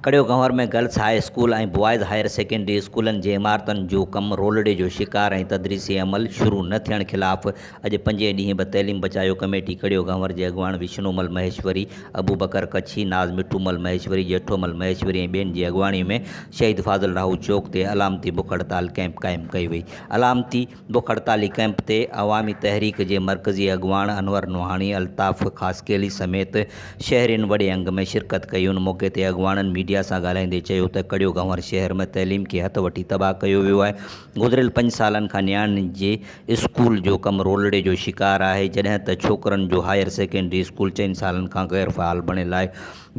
Karyo Ghanwar ۾ girls high school ۽ boys higher secondary اسڪولن جي عمارتن جو ڪم رولڙي جو شڪار ۽ تدريسي عمل شروع نه ٿيڻ خلاف اڄ پنجين ڏينهن به تعليم بچايو ڪميٽي ڪڙيو گهنور جي اڳواڻ وشنو مل مهيشوري، ابو بڪر ڪڇي، ناز مٺو مل مهيشوري، ڄيٺو مل مهيشوري ۽ ٻين جي اڳواڻي ۾ شهيد فاضل راهو چوڪ تي علامتي بک هڙتال ڪئمپ قائم ڪئي وئي. علامتي بک هڙتالي ڪئمپ تي عوامي تحريڪ جي مرڪزي اڳواڻ انور نوحاڻي، الطاف خاصخيلي سميت شهرين وڏي انگ ۾ شرڪت ڪئي. ان موقعي تي اڳواڻن ميڊيا سان ڳالهائيندي چيو ته ڪڙيو گهنور شهر ۾ تعليم کي هٿ وٺي تباهه ڪيو ويو آهي، گذريل پنج سالن کان نياڻين جي اسڪول جو ڪم رولڙي جو شڪار آهي، جڏهن ته ڇوڪرن جو هائير سيڪنڊري اسڪول چئن سالن کان غير فعال بڻيل آهي،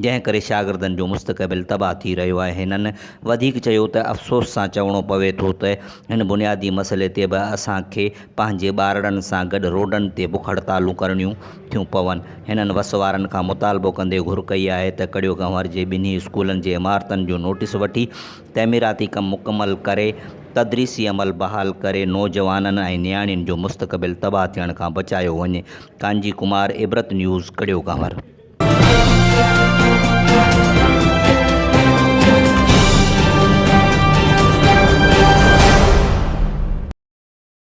جنهن ڪري شاگردن جو مستقبل تباهه ٿي رهيو آهي. هنن وڌيڪ چيو ته افسوس سان چوڻو پوي ٿو ته هن بنيادي مسئلي تي به اسان کي پنهنجي ٻارڙن سان گڏ روڊن تي بک هڙتالون ڪرڻيون ٿيون پون. هنن وس وارن کان مطالبو ڪندي گهر ڪئي آهي ته ڪڙيو گنور جي ٻنهي اسڪولن جي عمارتن جو نوٽيس وٺي تعميراتي ڪم مڪمل ڪري تدريسي عمل بحال ڪري نوجوانن ۽ نياڻين جو مستقبل تباهه ٿيڻ کان بچايو وڃي، ڪانجي ڪمار، عبرت نيوز، ڪڙيو ڪنور.